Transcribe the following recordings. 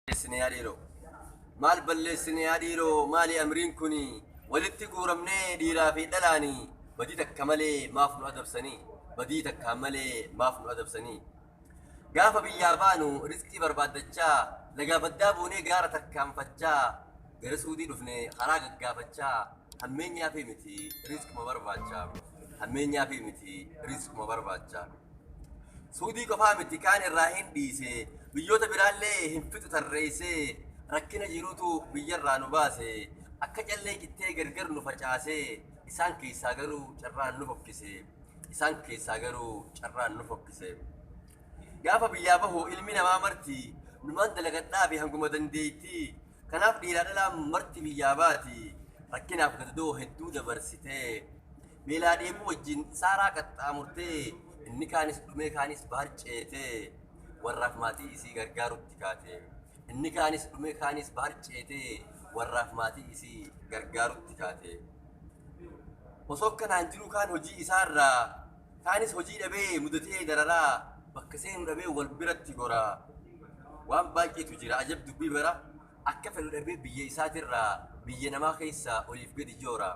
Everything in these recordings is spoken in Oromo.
balleessine yaa dhiiroo? Maal balleessine yaa dhiiroo maali amriin kuni? Walitti guuramnee dhiiraa fi dhalaani badii takka malee maaf nu adabsanii? Badii takkaan malee maaf nu adabsanii? Gaafa biyyaa baanu rizqii barbaaddachaa lagaa baddaa buunee gaara tarkaanfachaa gara suudii dhufne karaa gaggaafachaa hammeenyaa fi miti rizquma barbaachaa hammeenyaa fi miti rizquma barbaachaa. Suudii qofaa miti kaan irraa hin dhiise, biyyoota biraallee hin fixu tarreesse, rakkina jirutu biyyarraa nu baase, akka callee cittee gargar nu facaase, isaan keessaa garuu carraan nu fokkise, isaan keessaa garuu carraan nu fokkise. Gaafa biyyaa bahu ilmi namaa marti, numaan dalagadhaafi hanguma dandeettii, Kanaaf dhiiraa dhalaan marti biyyaa baati rakkinaaf gadadoo hedduu dabarsitee beelaa dheebuu wajjin saaraa qaxxaamurtee inni kaanis dhumee kaanis bahar ceetee warraaf maatii isii gargaarutti kaate inni kaanis dhumee kaanis bahar ceetee warraaf maatii isii gargaarutti kaate osoo kanaan jiruu kaan hojii isaarraa Kaanis hojii dhabee mudatee dararaa bakka seenu dhabee wal biratti gora waan baay'eetu jira ajab dubbii bara akka fedhu dhabee biyya isaatirraa biyya namaa keessa oliif gadi joora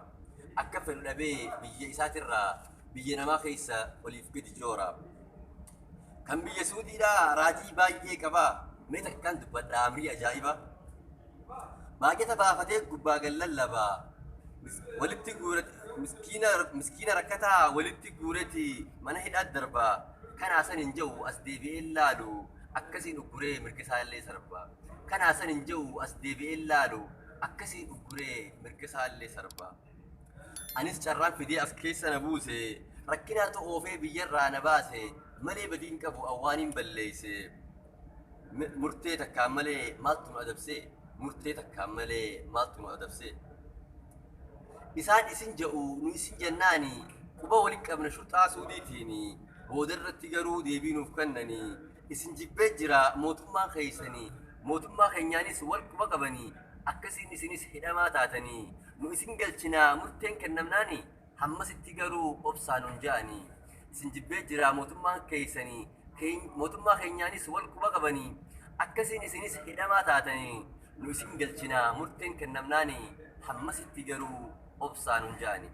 akka fedhu dhabee biyya isaatirraa biyya namaa keessa oliif gadi joora kan biyya suudiidhaa raajii baay'ee qaba mee takkaan dubbadha amrii ajaa'iba Baajata baafatee gubbaa gad lallaba. Walitti guure miskiina miskiina rakkataa walitti guureti mana hidhaat darba. Kanaa san hin ja'u as deebi'ee hin laalu. Akkasiin ugguree mirga isaallee sarba. Kanaa san hin ja'u as deebi'ee hin laalu. Akkasiin ugguree mirga isaallee sarba. Anis carraan fidee as keessa na buuse. Rakkinaatu oofee biyyarraa na baase. Malee badii hin qabu an waaniin balleeyse. Murtee takkaan malee maaltu nu adabsee? Murtee takkaan malee maaltu nu adabsee? Isaan isin ja'u nu isin jannaani quba walitti qabna shurxaa suudiitiini booda irratti garuu deebii nuuf kennani isin jibbee jira mootummaan keessani mootummaa keenyaanis wal quba qabani akkasiin isinis hidhamaa taatani nu isin galchinaa murteen kennamnaani Hammasitti garuu obsaa nun ja'anii. Isin jibbee jiraa mootummaan keessanii keen- mootummaa keenyaanis wal quba qabanii. Akkasiin isinis hidhamaa taatanii nu isin galchinaa murteen kennamnaanii. Hammasitti garuu obsaa nun ja'anii.